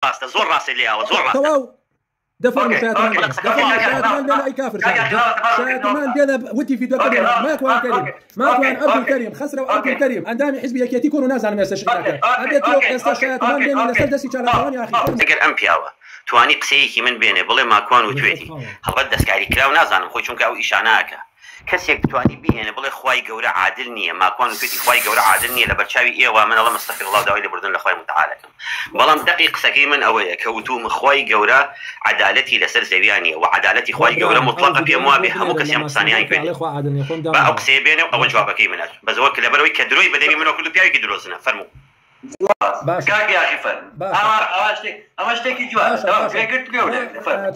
ڕاستە زۆر ڕاستت لێ ئاوە زۆر ڕاستە. تەواو دە فەرموو شایەتمان بێنە دە فەرموو شایەتمان بێنە ئەی کافر شایەتمان شایەتمان بێنە وتی فیدۆکە بێنە ماکوان کەریم ماکوان عەبدول کەریم خەسرەو عەبدول کەریم ئەندامی حیزبی یەکێتی کۆن و نازانم ئێستا شیعرەکە ئەبێ تۆ ئێستا شایەتمان بێنە لەسەر دەستی چالاکوان یاخی فەرموو. ئەگەر ئەم پیاوە توانی قسەیەکی من بێنێ بڵێ ماکوان وتوێتی هەڵبەت دەستکاریکراو نازانم خۆی چونکە ئەو ئیشانە ئەکا. کەسێک بتوانی بیهێنێ بڵێ خوای گەورە عادل نیە ماکوان وتوێتی خوای گەورە عادل نیە لەبەرچاوی ئێوە من ئەڵێم استغفر اللە و داوای لێبوردن لەخوای متعال ئەکەم بەڵام دەقی قسەکەی من ئەوەیە کە وتوم خوای گەورە عەدالەتی لەسەر زەویا نیە وە عەدالەتی خوای گەورە موتڵەقە پێم وابێ هەموو کەسێ ئەم قسانەیان کردێ با ئەو قسەیە بێنێ و ئەوە جوابەکەی منە بەس وەک لەبەرئەوەی کە درۆی بەدەمی منەوە کردو پیاوێکی درۆزنە فەرموو. باشە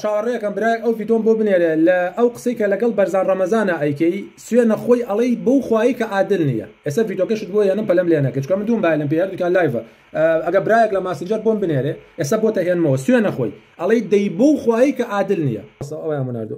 چاوەڕێکەم برای ئەو ڤیدۆم بۆ بنێرێ لە ئەو قسەی کە لەگەڵ بەرزان ڕەمەزانە ئەیکەی سوێ نەخۆی ئەڵەی بەو خوایی کە عادل نییە ئێستا ڤیدۆکەشت بۆ یانم پەلم لێ نەکەچکە من دوم باەلم پێ دوکان لایڤە ئەگە برایەک لە ماسنجەر بۆم بنێرێ ئێستا بۆ تەهێنمەوە سوێ نەخۆی ئەڵەی دەی بەو خوایی کە عادل نییە ئەویان مناردو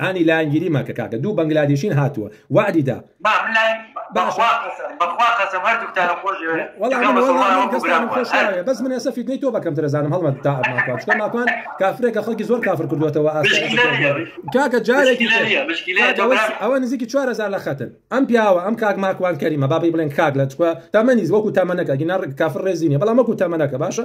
ئانی لایەنگیری مەکە کاکە دوو بەنگلادیشین هاتووە وەعدی دا. بەس من ئێستا فیدنەی تۆ بەکەم درەزانم هەڵمە تا ماکوان ماکوان کافرێکە خەڵکی زۆر کافر کردوێتەوە کاکە جارێکی ئەوە نزیکی چوارزار لە خەتن ئەم پیاوە ئەم کاک ماکوان کەریمە بابی بڵێن کاک لە چکوە تەمەنی وەکو تەمەەکە گینە کافر ڕێزیینە بەڵام وەکو تەمەەکە باشە